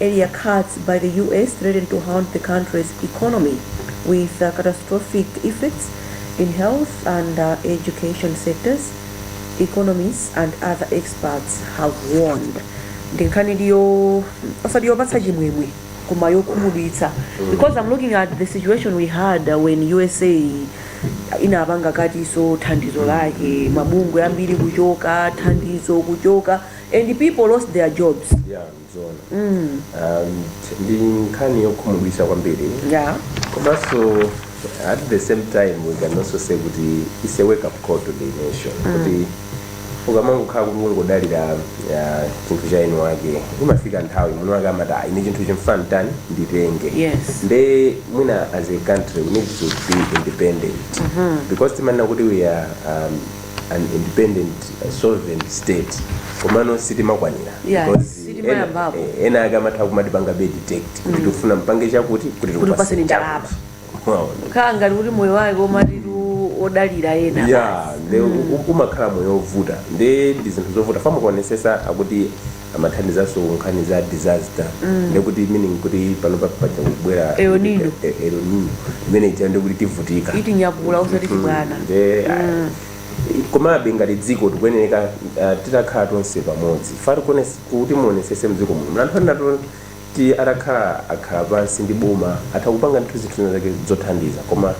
earlier cuts by the US threaten to haunt the country's economy with uh, catastrophic effects in health and uh, education sectors, economists and other experts have warned. Ndi nkhani ndiyo osati yopatsa chimwemwe koma yokhumudwitsa because I'm looking at the situation we had uh, when USA inapanga cut-nso thandizo lake mabungwe ambiri kuchoka thandizo kuchoka and people lost their jobs Yeah. ndi nkhani yokhumudwitsa kwambiri yeah komanso at the same time we can also say kuti it's a wake up call to the nation kuti ukamangokhala kuti ungodalira ah, chinthu cha eni wake imafika nthawi mwini wake amati "Ah, ine chinthuchi mfuna tani nditenge Yes. nde mwina as a country we need to be independent because timanena kuti we are um, an independent uh, sovereign state komano sitimakwanira Yeah, Because sitimayambapo. ena- eh, ena ake amatha kumatipanga dictate kuti tifuna mpange chakuti kuti Kuti tikupaseni ndalama. Wow. khala ngati kuti moyo wake omatitu odalira ena ya nde umakhala moyo wovuta nde ndi zinthu zovuta fa mukaonesesa akuti amathandizanso nkhani za disaster ndekuti meaning kuti pano pa- paja kubwera El Nino. eh, El Nino. imene ija ndekuti tivutika itinyakula osati chibwana Nde, ah, komabe ngati dziko tikuyeneka ah, titakhala tonse pamodzi fati kuti muonesese mdziko muno muli anthu enatu Kuti atakhala akhala pansi ndi boma atha kupanga ndithu zinthu zina zake zothandiza koma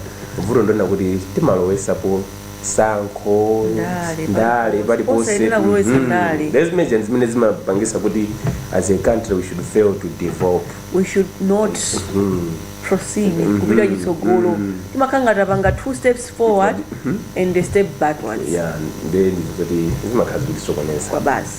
vuto ndilonena kuti timalowesapo sankho Ndale, ndale paliponse. Osayenera kulowetsa Mhm. ndale. Ndiye zimenezi ndi zimene zimapangisa kuti as a country we should fail to develop we should not Mhm. proceed Mhm. kupita chitsogolo Mhm. timakhala ngati tapanga two steps forward and a step backwards yeah nde ndi zoti zimakhala zikutisokoneza kwa basi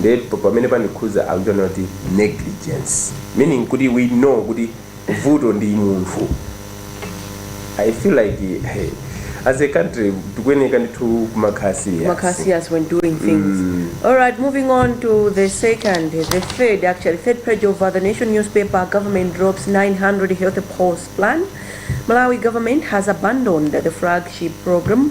nde pa- pamene pandikhudza akuchonena kuti negligence meaning kuti we know kuti vuto ndi munthu i feel like hey, as a country tikuyeneka ndithu kumakhala serious when doing things. All right, moving on to the second, the third, actually, third page of uh, the Nation newspaper. Government drops 900 health post plan. Malawi government has abandoned the flagship program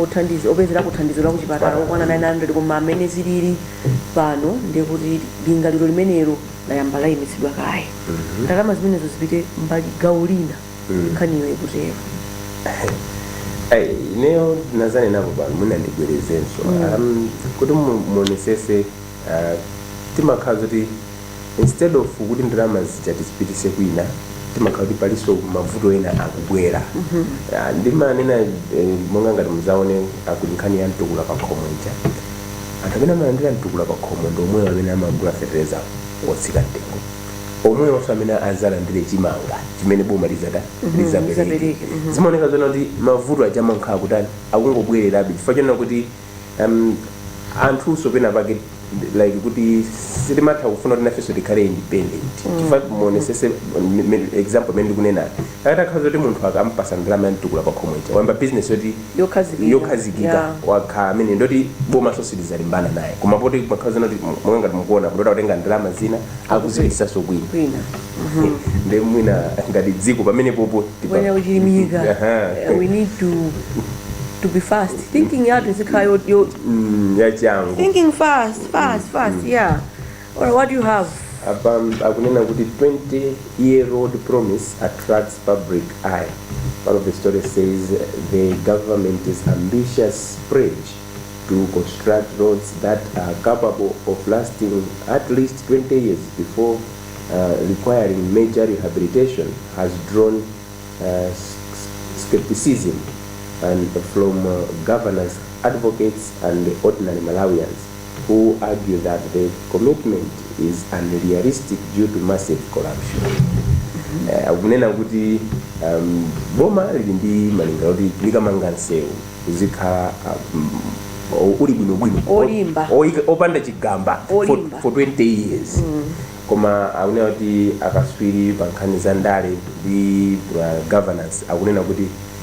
othandiza opezerako thandizo la kuchipatala okwana 900 koma mmene zilili pano ndi kuti lingaliro limenelo layamba layimitsidwa kaye ndalama zimenezo zipite mbali gawo lina nkhaniyo ikutero Ai, ineyo ndinazinenapo pano mwina ndibwerezenso um, kuti mu- muonesese uh, timakhala zoti instead of kuti ndalama zija tizipitise kwina timakhala kuti palinso mavuto ena akubwera Ah, ndimanena eh, monga ngati muzaone akuti nkhani ya mtukula pa khomo ija anthu amene amalandira mtukula pa khomo ndi omwewo amene amagula fetereza wotsika mtengo omwewonso amene azalandire chimanga chimene boma lizata lizapereke lizapereke, mhm. zimaoneka zona kuti mavuto aja amakhala kutani akungobwererabe chifukwa chonena kuti um, anthunso pena pake like kuti sitimatha kufuna kuti nafenso tikhale independent mm. chifukwa muonesese example imene ndikunena akati akhala kuti munthu akampasa ndalama ya mtukula pa khomo ija wayamba business yoti yokhazikika wakhala amene ndoti bomaso silizalimbana naye koma poti makhala zona kuti monga ngati mukuona kuti akutha kutenga ndalama zina akuzipitisaso kwina Mhm. nde mwina ngati dziko pamenepopo to be fast thinking yathu izikhala yo, yo mm, yachangu thinking fast fast mm, fast mm. yeah or what do you have apa akunena kuti 20 year old promise attracts public eye part of the story says the government is ambitious spread to construct roads that are capable of lasting at least 20 years before requiring major rehabilitation has drawn skepticism and from governance advocates and ordinary Malawians who argue that the commitment is unrealistic due to massive corruption. Akunena kuti boma lili ndi malinga kuti likamanga nsewu uzikhala uh, um, uli bwinobwino Olimba. O- oika- opanda chigamba for, Olimba. for 20 years koma akunena kuti akaswiri pa nkhani za ndale ndi uh, governance akunena kuti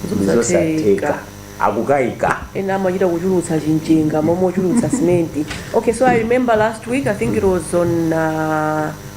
Zosatheka. ndizosatheka akukaika ena amachita kuchulutsa chimchenga momwe ochulutsa simenti okay so i remember last week i think it was on uh,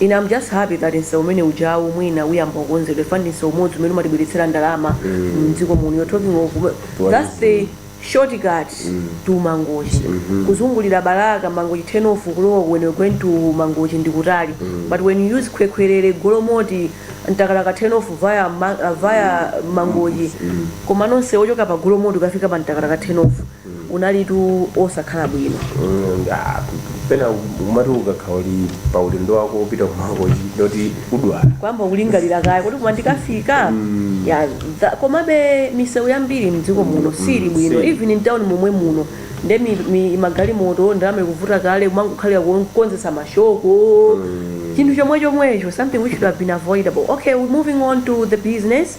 ine am just happy that nsewu umene ujawu mwina uyamba kukonzedwa chifukwa ndi nsewu umodzi umene umatibweretsera ndalama mdziko muno you're talking of that's the shortcut to mangochi kuzungulira balaka mangochi turn off kulowa when you're going to mangochi ndi kutali but when you use khwekhwerere golomoti mtakataka turn off via, ma, uh, via mangochi komano nsewu ochoka pa golomoti kukafika pa mtakataka turn off unalitu osakhala bwino Mm, ah, pena umati ukakhala uli pa ulendo wako upita kumangochi ndoti udwala kuyamba kulingalira kaye kuti koma ndikafika ya tha- komabe misewu yambiri mdziko muno siili bwino si. even mtown momwe muno nde mi- mi- magalimoto ndalama ikuvuta kale kumangokhalira kukonzesa mashoko chinthu chomwe chomwecho something which should have been avoidable okay we're moving on to the business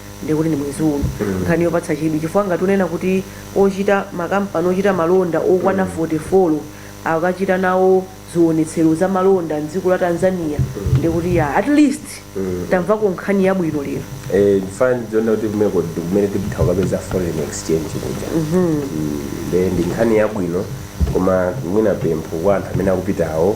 ndiye kuti ndi mwezi uno Mm. nkhani yopatsa chidwi chifukwa ngati unena kuti ochita makampani ochita malonda okwana 44 akachita nawo zionetsero za malonda mdziko la tanzania ndiye kuti ya at least Mm. tamvako nkhani yabwino lero Eh, chifukwa ndiona kuti kumeneko kumene tipita kukapeza foreign exchange kuja Mm, nde ndi nkhani yabwino koma mwina pempho kwa anthu amene akupitawo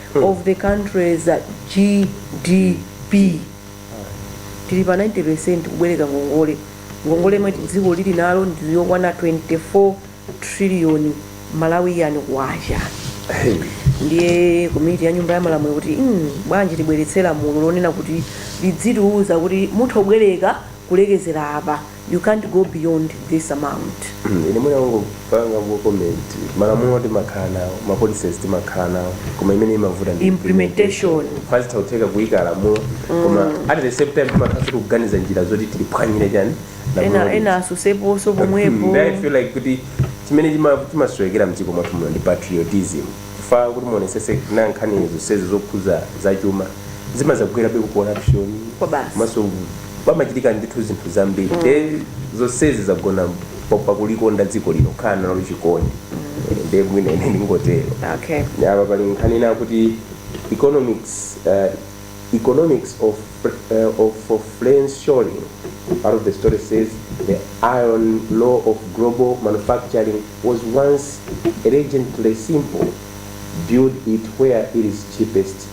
of the country's GDP tili pa 90% kubwereka ngongole ngongole yomwe dziko lili nalo ndi yokwana 24 trillion malawian kwacha ndiye komiti ya nyumba ya malamulo ikuti "Mm, bwanji tibweretse lamulo lonena kuti lidzitiuza kuti mutha kubwereka kulekezera apa you can't go beyond this amount ine mwina kungopanga ku comment malamulo timakhala nawo ma policies timakhala nawo koma imene imavuta ndi implementation pazitha kutheka kuyika lamulo koma at the same time timakhala kuti kuganiza njira zoti tiliphwanyire chani ena ena asuseponso pomwepo Then I feel like kuti chimene chima- chimasowekera mdziko mwathu muno ndi patriotism chifukwa choti muonesese nkhani zonsezi zokhuza zachuma zimazagwerabe ku corruption Kwa basi. maso pamachitika ndithu zinthu zambiri mm. nde zonsezi zagona pakulikonda dziko lino kukhala nalo chikondi mm. nde mwina ine ndingotero okay. apa pali nkhani ina kuti economics uh, economics of, uh, of, of friends showing part of the story says the iron law of global manufacturing was once elegantly simple build it where it is cheapest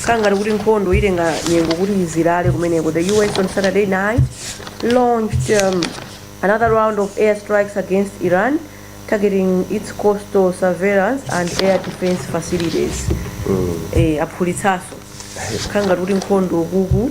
kukhala ngati kuti nkhondo itenga nyengo kuti izizilale kumeneko the us on saturday night launched um, another round of air strikes against iran targeting its coastal surveillance and air defense facilities eh, aphulitsanso kukhala ngati kuti nkhondo kuku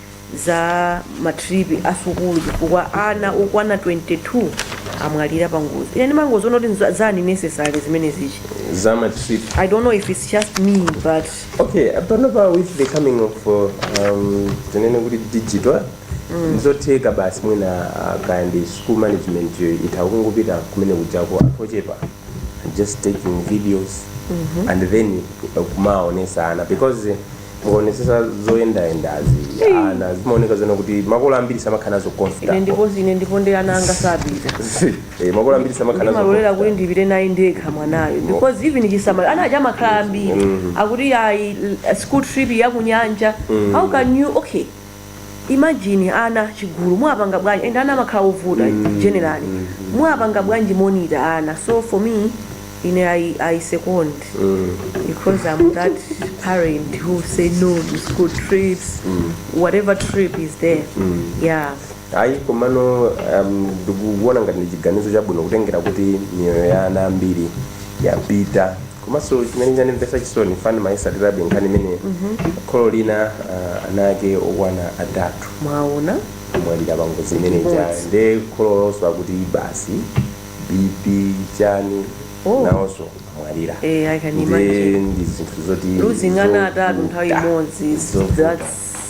za matripi a sukulu chifukwa ana okwana 22 amwalira pa ngozi ine ndimangoziona kuti nza- za unnecessary zimenezi za matrip i don't know if it's just me but okay panopa with the coming of uh, um, tinene kuti digital ndi zotheka basi mwina uh, kaya ndi school management yo itha kungopita kumene kujako anthu ochepa just taking videos and then uh, kumaonesa ana because mukaonetsetsa zoyendayendazi ana zimaoneka zona kuti makolo ambiri samakhala nazo comfortable ndipo ine ndipo nde ana anga sapita Eh, makolo ambiri samakhala nazo ndimalolera kuti ndipite naye ndekha mwanayo because even chisamaliro ana aja amakhala ambiri akuti ayi l- school trip ya kunyanja how can you okay imagine ana chigulu muwapanga bwanji and ana amakhala ovuta mm. generally mm. muwapanga bwanji monitor ana so for me ine i, I second mm. because i'm that parent who say no to school trips mm. whatever trip is there mm. yeah Ayi, komano um, ndikuona ngati ndi chiganizo chabwino kutengera kuti miyoyo ya ana ambiri yapita komanso chimene chandimvetsa chisoni chifukwa ndimayitsatirabe nkhani imene kholo lina uh, ana ake okwana atatu mwaona amwalira pangozi imene ija Ngozi. nde kholo lonso akuti basi bp chani Oh. nawonso amwalira Eh, I can nde imagine. ndi zinthu zoti Losing ana atatu nthawi zovuta. imodzi, Zovuta. that's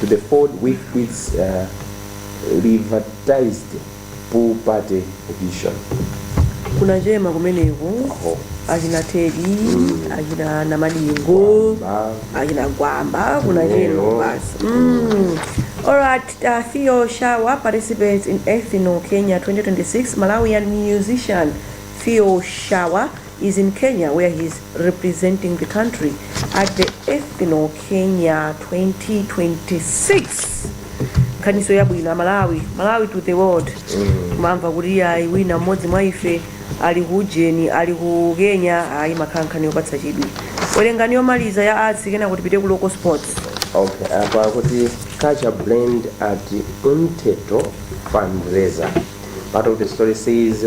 to the fold with its uh, revertised pool party edition kunachema kumeneko Oho. achina tedi achina namadingo Ba- achina gwamba kunachema Lero. basi Mm. Alright, uh, Theo Shawa participates in Ethno Kenya 2026 Malawian musician Theo Shawa is in Kenya where he is representing the country at the Ethno Kenya 2026 nkhaniso yabwino amalawi malawi to the world mamva kuti ayi wina mmodzi mwa ife ali ku ujeni ali ku kenya ayi makhala nkhani yopatsa chidwi werengani yomaliza ya arts kenako tipite ku local sports okay apa akuti culture blend at Umthetho fundraiser part of the story says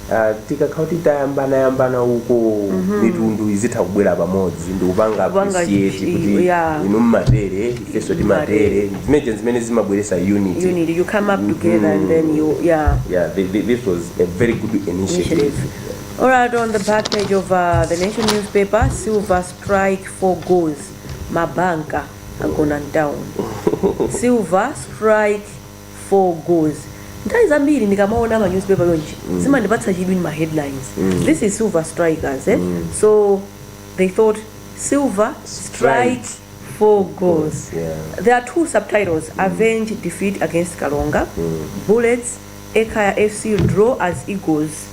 Ah, tikakhala kuti tayambanayambana uko mitundu izitha kubwera pamodzi ndikupanga Kupanga appreciate chi- kuti yeah. inu mmatere ifenso timatere zimene zija zimene zimabweresa unity you need you come up together and then you yeah yeah thi- thi- this was a very good initiative Initiative. All right, on the back page of uh, the Nation newspaper, Silver strike four goals. Mabanka agona down. silver strike for goals nthawi zambiri ndikamaona ma newspaper chonchi zimandipatsa chidwi ndi ma headlines this is silver strikers eh? so they thought silver strikes four goals Yeah. there are two subtitles avenge defeat against kalonga bullets ekaya fc draw as eagles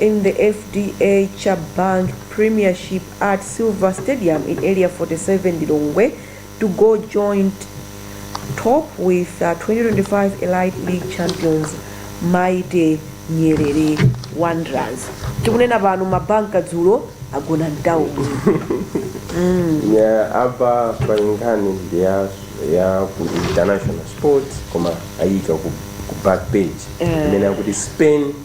in the FDH Bank premiership at silver stadium in area 47 lilongwe to go joint top with uh, 2025 elite league champions mighty nyerere wanderers tikunena pano mabanka dzulo agona down apa pali nkhani ndi ya ya ku international sports koma ayika ku, ku back page Eh. imene akuti spain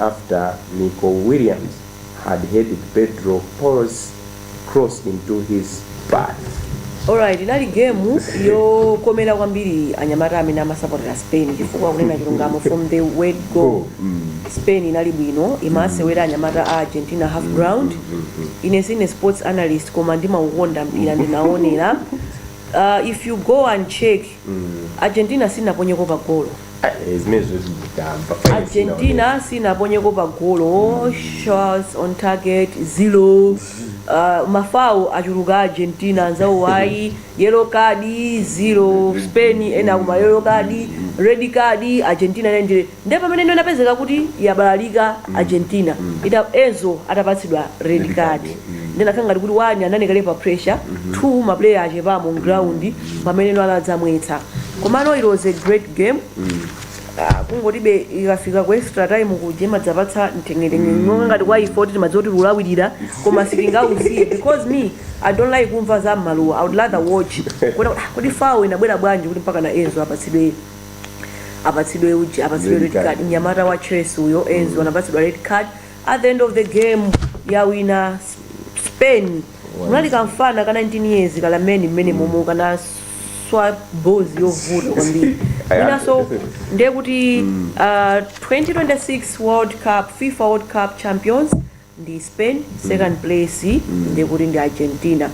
after Nico Williams had headed Pedro Porro's cross into his path. Alright, inali game yokomera kwambiri anyamata amene amasapotera Spain chifukwa kunena chilungamo from the word go Spain inali bwino imasewera anyamata a Argentina half ground ine sindine sports analyst koma ndimaukonda mpira ndinaonera uh, if you go and check Argentina sinaponyeko pa golo Eh, zimene zoti nditamba argentina sinaponyeko pa golo shots on target zero uh, mafawo achuluka argentina anzawo ayi yellow card zero spain ena akumwa yellow card red card argentina ina ndire nde pamene ino inapezeka kuti yabalalika argentina ita enzo atapatsidwa red card nde inakhala ngati kuti wani anali kale pa pressure two maplayer achepamo mground pamene ino anadzamwetsa komano it was a great game Ah, kungotibe ikafika ku extra time kuja imadzapatsa mteng'etenge monga ngati kwa ife oti timadziwa kuti tilawirira koma sitingausiye because me i don't like kumva za mmaluwa i would rather watch Kuona kuti, ah, kodi fawo inabwera bwanji kuti mpaka na enzo apatsidwe apatsidwe uji apatsidwe Red red card. card mnyamata wa chelsea uyo enzo anapatsidwa red card at the end of the game yawina spain munali kamfana ka 19 years ka Lamine mmene momo kanaswa ball yovuta kwambiri mwinaso ndiye kuti uh, 2026 world cup fifa world cup champions ndi spain second place ndiye kuti ndi argentina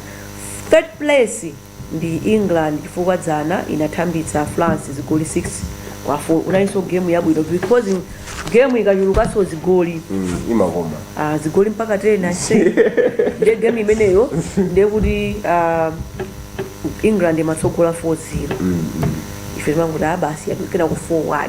third place ndi England chifukwa dzana inathambitsa France zigoli 6 kwa 4 unalinso game yabwino because game ikachulukanso zigoli Mm, imakoma ah, zigoli mpaka 10 ase ndiye game imeneyo ndiye kuti ah, England imatsogola 4-0 ife timangoti ah basi kena ku 4-1